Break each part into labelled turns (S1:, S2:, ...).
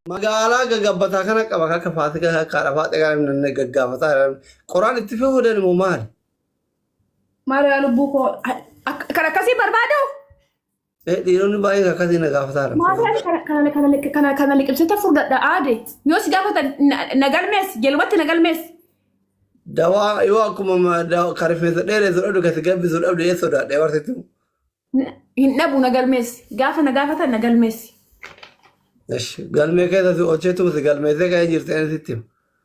S1: magaalaa gaggabbataa kana qaba akka faatika akka arafaa xegaa namni gaggaafataa jiran qoraan itti fayyadamu immoo maali?
S2: Maariyaa lubbuu koo kan akkasii barbaadu Eh,
S1: Dhiironni baay'een akkasii na gaafataadha. Maadaan kana-
S2: kana- kana- kana- kana liqimsita furdadha aade. Yoo si gaafatan na- na galmees, jalumatti na galmees. Dawaa
S1: yoo akkuma ma- dawa- kan rifeensa dheeressu dhabdu kan si gabbisu dhabdu ee sodaadha ee barsiistu. Na-
S2: Hin dhabu na galmees. Gaafa na gaafatan na galmees. Esh,
S1: Galmee keessa si oolcheetu si galmeessee ka'ee jirti ani sitti. hima.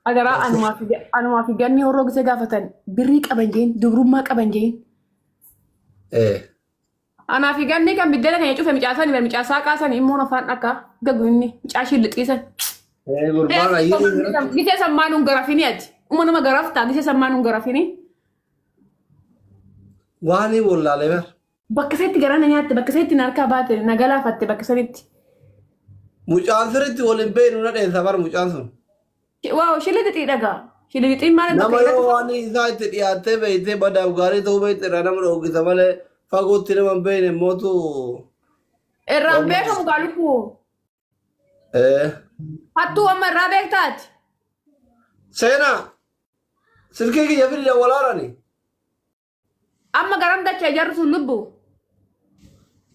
S1: Agaraa anumaa
S2: fi ga- anumaa fi ganni horroo gisee gaafatan birrii qaban jeen, dubrummaa qaban jeen. Eh, Anaa fi ganni kan biddena keenya cufe micaa sani bar micaa saaqaa sani immoon afaan dhakaa gagu inni micaa ishii lixii sani. Eh, gurbaa baay'ee jira. Gisee sammaa nun garafini ati. Uma nama garaftaa gisee sammaa nun garafini.
S1: Waan hin wallaalee bar. Bakka isatti garana
S2: nyaatte bakka isatti na harkaa baate na galaafatte bakka isanitti.
S1: Mucaan sirriitti wal hin beeknu na dheessa bar mucaan sun. Waaw
S2: shilixixii dhagaa. Shilixixiin maal akka nama ta'e yoo irratti waan isaa
S1: itti dhiyaattee beeytee badaaf gaarii ta'uu beeyte irraa nama dhoogisa malee fagootti nama hin beeyne mootu
S2: irraan waan beekamu murteessa. kaa lubbuu. Eh, Hattuu amma irraa beektaati.
S1: Seenaa silkii kiyya fidda walaarani.
S2: Amma garam dacha ijarru sun lubbu.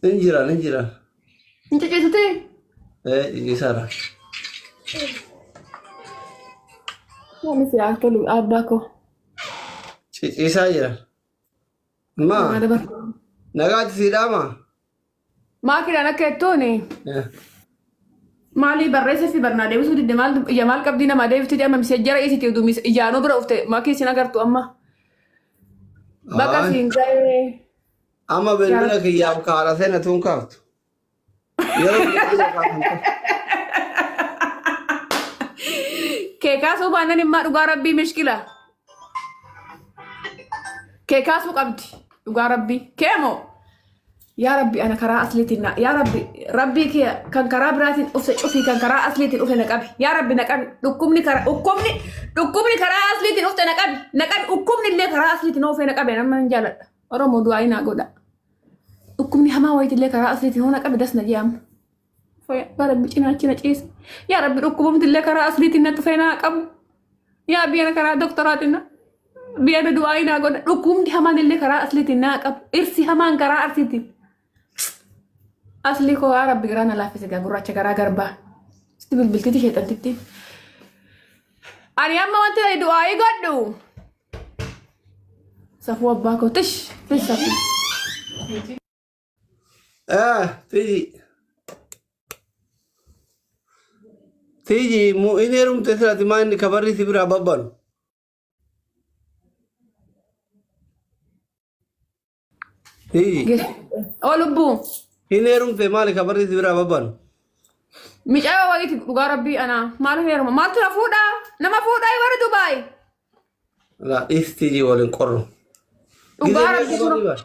S1: Hin jiran hin jiran. Hin
S2: cicisuti. Eh
S1: isara. Ani
S2: si haa tolu abbaa koo.
S1: Isa jiran. Ma Maal dabarsa? nagaati siidhaama.
S2: Maakiidhaan akka jettuun maalii barreessa fi barnaa deebisuu didde maal ija maal qabdii namaa deebifti jedhama misee jara isiti utuu mis ijaanuu bira ufte maakii isin agartu amma baqa Aay. siin ga'ee Amma
S1: bilbila kiyyaaf kaara seena tuun kaaftu. Yeroo bilbila kaaftu.
S2: kee kaasuu baannan immaa dhugaa rabbii mishkila Kee kaasuu qabdi. Dhugaa rabbii. Kee moo? Yaa rabbi ana karaa asliitiin na yaa rabbi rabbii kee kan karaa biraatiin dhufte cufii kan karaa asliitiin dhufe na qabi yaa rabbi na qabi dhukkubni karaa dhukkubni dhukkubni karaa asliitiin dhufte na qabi na qabi dhukkubni illee karaa asliitiin oofee na qabe nama hin jaaladha oromoo du'aa inaa godha dhukkubni hamaa wayiitillee karaa asliitiin hoo na qabi das na jee amma. Yaa rabbi cinaachi na ciise. Yaa rabbi dhukkubumti illee karaa asliitiin na dhufee naa qabu. Yaa biyya karaa doktoraatiin na biyya na du'aa naa godha. Dhukkubumti hamaan illee karaa asliitiin naa qabu. Dhirsi hamaan karaa arsiitiin. Aslii koo yaa rabbi garaa na laaffise gaa gurraacha garaa garbaa. Sitti bilbiltiti sheexantitti. Ani amma wanti ani du'aa godhu. Safuu abbaa koo tish tish safuu.
S1: Ah, tiji. Tiji, mu in heerumte sirati maa inni kabarri si biraa babbanu. Tiji, Oo
S2: lubbuu. in
S1: heerumte maali kabarri si biraa babbanu.
S2: Micaayoo wayiiti dhugaa rabbii anaa. Maal hin heeruma? Maaltu na fuudhaa? Nama fuudhaa warri Dubaay.
S1: Laa, dhis tiji waliin qorru. Dhugaa
S2: rabbii Gizee sun. meeqa barri bara?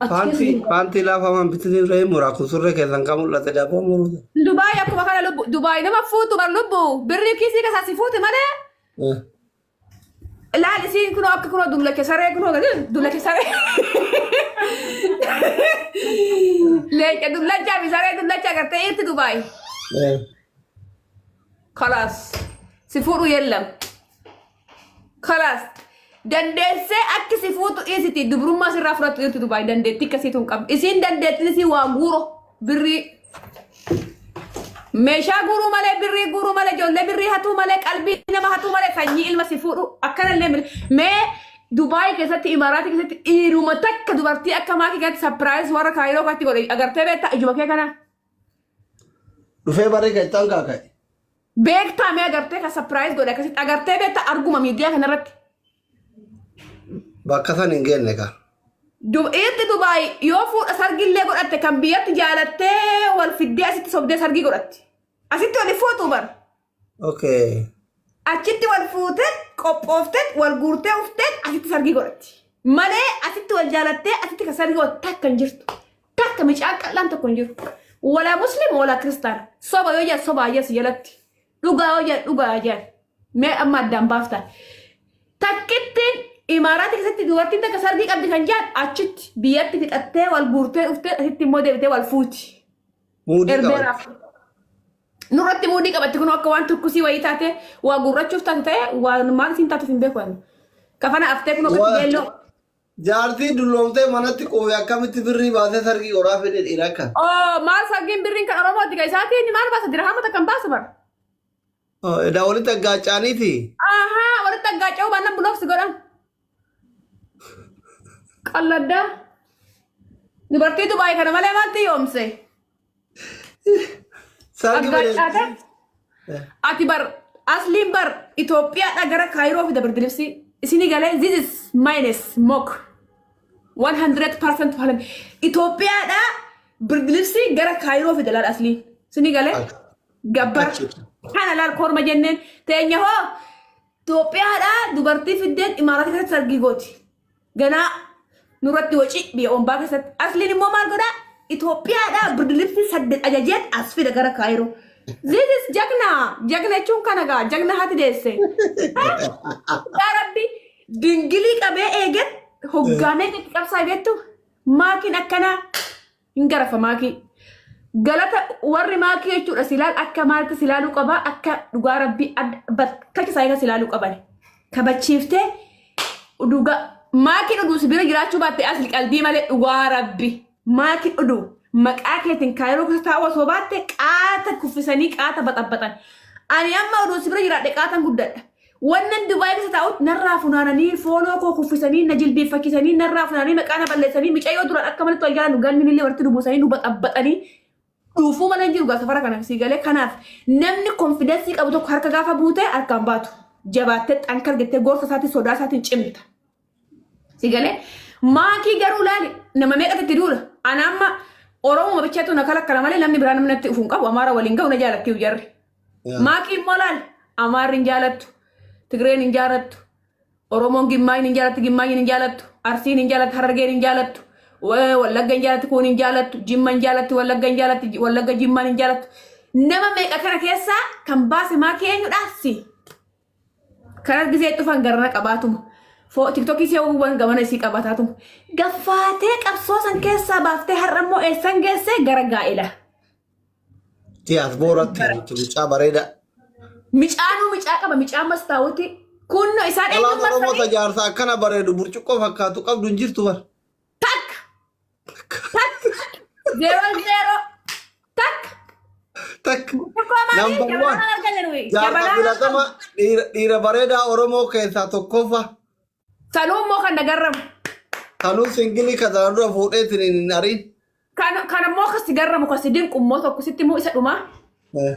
S2: Achi keessa Paantii jiru.
S1: paantii laafamaan bitanii ree muraa kun surree keessan kan mul'ate daaboo muruudha. Dubaay akkuma kana
S2: lubbu Dubaay nama fuutu bar lubbu birrii kiisii keessaa si fuuti malee ilaali siin kunoo akka kunoo dullacha saree kunoo gadi dullacha saree leenca dullachaa fi saree dullachaa gartee irti Dubaay kalaas si fuudhu yellam Kalaas. Dandeessee akki si fuutu dhiisiti dubrummaa sirraa fudhattu jirtu dubaay dandeetti akkasii tun qabdi. Isiin dandeettiin isii waa guuro birrii. Meeshaa guuruu malee birrii guuruu malee ijoollee birrii hatuu malee qalbii nama hatuu malee sanyii ilma si fuudhu akkanallee mil- mee Dubaay keessatti Imaaraatii keessatti dhiiruma takka dubartii akka maakii keessatti sapiraayis warra kaayiroo faatti godhe agartee beektaa ijuma kee kanaa.
S1: Dhufee barree keessaan kaaka'e. Beektaa
S2: mee agartee kan sapiraayiz godhe akkasitti agartee beektaa arguma miidiyaa kanarratti.
S1: Bakka san hin geenne kaa. Du- Dhiirti
S2: Dubaay yoo fuudha sargillee godhatte kan biyyatti jaalattee wal fiddee asitti sobdee sargii godhatti. Asitti wal hin fuutu bar. Okay. Achitti wal fuutee
S1: qophooftee
S2: wal guurtee uftee asitti sargii godhatti. Malee asitti wal jaalattee asitti kan sargii godhatte takka hin jirtu. Takka micaan qal'aan tokko hin jiru. Walaa muslim walaa kiristaana. Soba yoo jedhan soba ayyaas jalatti. Dhugaa yoo jedhan dhugaa ayyaas. Mee amma addaan baaftan. Takkittiin imaaraatti keessatti dubartiin takka sargii qabdi kan jedhan achitti biyyatti fixattee wal guurtee dhuftee asitti immoo deebitee wal fuuti. Muudii qaban. Erbeeraaf. Nurratti muudii qabatti kun akka waan turkusii wayii taate waa gurrachuuf taate ta'e waan maal siin taatuuf hin beeku. Kafana aftee kun ofitti Waa- beelloo. Jaartii
S1: dulloomtee manatti quufe akkamitti birrii baasee sargii qoraa fedhe dhiira akka. Oo maal sargiin
S2: birriin kan Oromooti kan isaa keenya maal baasa dirhaama takka hin baasu bara. Oo,
S1: Edaa walitti aggaaccaaniiti. Ahaa walitti
S2: aggaaca'uu baannaan bulooksi godhan. Qalladdaa. Dubartiitu baay'ee kana malee maalti yoomse? Sargi Aggaa bareedu. caataa. Ati bar asliin bar Itoophiyaadha gara Kaayiroo fida birbiribsii. Isinii galee this is minus mock. 100% to 100. Itoophiyaadha birbiribsii gara Kaayiroo fida laal aslii. Isinii galee Achi- gabbar. achi- Kana laal korma jenneen teenya hoo Itoophiyaadha dubartii fiddeen imaaratii keessatti sargii gooti. ganaa nurratti waci biyya ombaa keessatti asliin immoo maal godhaa Itoophiyaadhaa birdilibsi saddeet ajajeet as fida gara kaayiroo this is jagna jagna jechuun kana gaa jagna hati deesse yaa rabbi dingilii qabee eegan hoggaamee itti qabsaa beektu maakiin akkanaa hin garafa maakii galata warri maakii jechuudha silaal akka maalti silaaluu qabaa akka dhugaa rabbii bakkacha isaa irra silaaluu qaban kabachiiftee dhugaa maakiin uduu si bira jiraachuu baatte asli qalbii malee dhugaa rabbi maakiin uduu maqaa keetiin kaayiroo keessa taa'uu osoo baatte qaata kuffisanii qaata baxabaxan ani amma uduu si bira jiraadhe qaatan guddadha Wannan Dubai keessa taa'ut narraa funaananii fooloo koo kuffisanii na jilbiiffachisanii narraa funaananii maqaa na balleessanii micayoo duraan akka malatti wal jaalannu galminillee walitti nu buusanii nu baxabbaxanii dhuufuu mana hin jiru gaa safara kana sii galee kanaaf namni konfidensii qabu tokko harka gaafa buute harkaan baatu jabaattee xankar jettee gorsa isaatiin sodaa isaatiin cimta. Si galee maakii garuu laali nama meeqatti itti duula. Ana amma Oromoo bichaatu na kalakkala malee namni biraa namni natti dhufuun qabu Amaara waliin ga'u na jaalatti iyyuu jarri. Yaa. Maakii immoo laali Amaarri hin jaalattu, Tigreen hin jaalattu, Oromoon Gimmaayin hin jaalattu, Gimmaayin hin jaalattu, Arsiin hin jaalattu, Harargeen hin jaalattu, wa- Wallagga hin jaalattu, Kuun hin jaalattu, Jimma hin jaalattu, Wallagga hin jaalattu, Ji- Wallagga Jimmaan hin jaalattu. Nama meeqa kana keessaa kan baase maakii eenyudhaa si? Kanas gisee dhufan garana qabaatuma. Foo tiktokii see uwwan gamana isii qabataatuma. Gaffaatee qabsoo san keessaa baaftee har'a immoo eessan geessee gara gaa'ela. Tiyaas
S1: booratti nuti mucaa bareeda. Micaanuu
S2: micaa qaba micaa mastaawuti. Kunno isaan Dhalaan eenyummaa Oromoo isaanii tajaarsa
S1: akkana bareedu burcuqqoo fakkaatu qabdu hin jirtu bar. takka
S2: Takka. Zero zero. Takka.
S1: Takk. Tokkoo maali? Number Jabanaa one. argaa jiru. Jaarraa Jabanaa filatama dhiira dhiira bareedaa Oromoo keessaa tokkoffaa. Sanuu
S2: immoo kan nagarramu. Kanuu
S1: singilii kan sana dura fuudheetiin hin ariin. Kan kan immoo
S2: kasi garramu kasi dinqu immoo tokko sitti immoo isa dhumaa. Eh.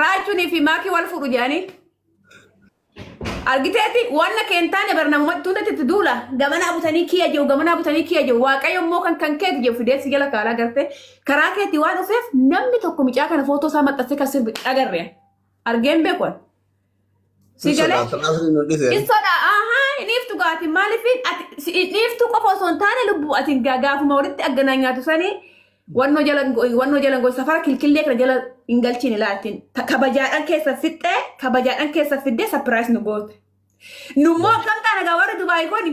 S2: Raachuunii fi maakii wal fuudhu jedhanii. Argiteeti wanna keen taane bar namumatti hundatti itti duula. Gamanaa butanii kiyya jiru gamanaa butanii kiyya jiru waaqayyo immoo kan kan keeti jiru fidee si jala kaalaa gartee karaa keetti waan dhufeef namni tokko mucaa kana footoo isaa maxxansee kan sirbi agarre. Argeen beekuun. Si Hin galee? sodaata naasriin nu dhise. Hin sodaa ahaa hin dhiiftu gaati maaliif ati si- hin dhiiftu qofa osoo hin taane lubbuu ati hin gaa- gaafuma walitti agganaa nyaatu sanii wannoo jala hin go- wannoo jala hin go- safara kilkillee kana jala hin galchiin ilaaltiin Ta- kabajaadhaan keessa fixxee kabajaadhaan keessa fiddee sapiraayis nu goote. Nummoo akkam taana gaa warri Dubaay kuni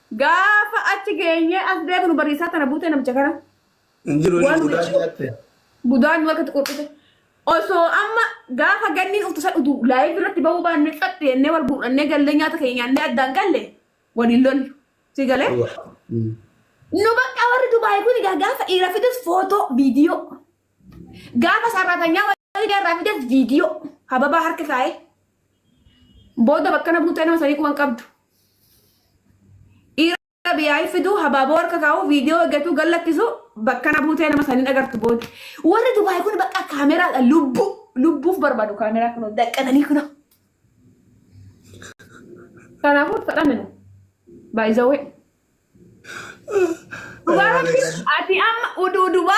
S2: Gaafa achi geenyee as deebinu bariisaa tana buutee namicha kana. Hin jiru inni
S1: budaa nyaatte. Budaa nu harkatti
S2: qurqite. Osoo amma gaafa ganniin dhuftu san utuu live irratti bahuu baannee xaxxi jennee wal guurrannee gallee nyaata keenya nyaannee addaan galle waliin lollu. Si galee? Nu bakka warri Dubaay kun egaa gaafa dhiira fidus footoo, viidiyoo. Gaafa sarratanyaa Faayidaa irraa fidas viidiyoo hababaa harka kaa'ee booda bakkana buutee nama sanii quban qabdu. Dhiira biyyaa'ii fiduu habaaboo harka kaa'uu viidiyoo eeggatuu gallakkisuu bakkana buutee nama sanii agartu booda. Warri Dubaay kun bakka kaameraadha lubbuu lubbuuf barbaadu kaameraa kunoo daqqananii kunoo. Kanaafuu fedhaminu baay'isawwee. Dhugaa rabbi ati amma uduu Dubaay.